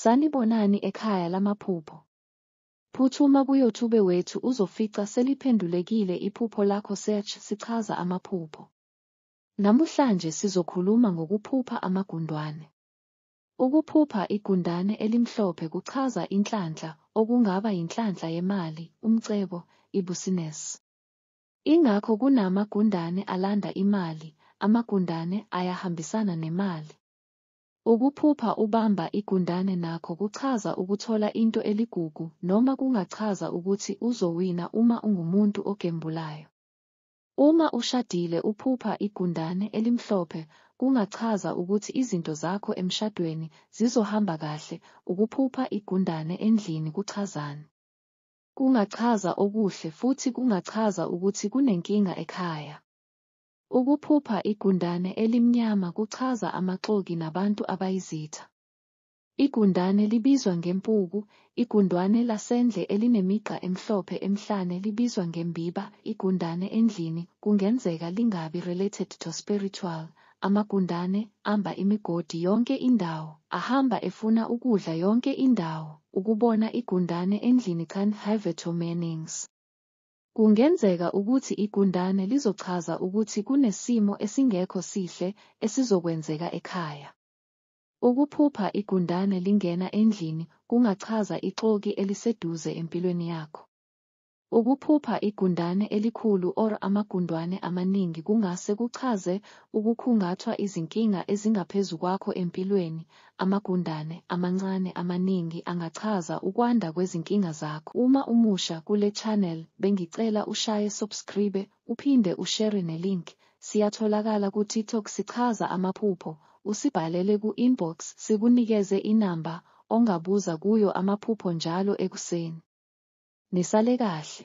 Sanibonani ekhaya lamaphupho. Phuthuma kuyoutube wethu uzofica seliphendulekile iphupho lakho search sichaza amaphupho. Namuhlanje sizokhuluma ngokuphupha amagundwane. Ukuphupha igundane elimhlophe kuchaza inhlanhla okungaba yinhlanhla yemali, umcebo, ibusines. Ingakho kunama gundane alanda imali, amagundane ayahambisana nemali. Ukuphupha ubamba igundane nakho kuchaza ukuthola into eligugu noma kungachaza ukuthi uzowina uma ungumuntu ogembulayo. Uma ushadile uphupha igundane elimhlophe kungachaza ukuthi izinto zakho emshadweni zizohamba kahle, ukuphupha igundane endlini kuchazani? Kungachaza okuhle futhi kungachaza ukuthi kunenkinga ekhaya. Ukuphupha igundane elimnyama kuchaza amaxoki nabantu abayizitha. Igundane libizwa ngempuku, igundwane lasendle elinemigqa emhlophe emhlane libizwa ngembiba, igundane endlini kungenzeka lingabi related to spiritual, amagundane amba imigodi yonke indawo, ahamba efuna ukudla yonke indawo, ukubona igundane endlini can have two meanings. Kungenzeka ukuthi igundane lizochaza ukuthi kunesimo esingekho sihle esizokwenzeka ekhaya. Ukuphupha igundane lingena endlini kungachaza ixoki eliseduze empilweni yakho. Ukuphupha igundane elikhulu or amagundwane amaningi kungase kuchaze ukukhungathwa izinkinga ezingaphezu kwakho empilweni, Amagundane amancane amaningi angachaza ukwanda kwezinkinga zakho uma umusha kule channel bengicela ushaye subscribe uphinde ushere ne link siyatholakala ku tiktok sichaza amaphupho usibhalele ku inbox sikunikeze inamba ongabuza kuyo amaphupho njalo ekuseni. Nisale kahle.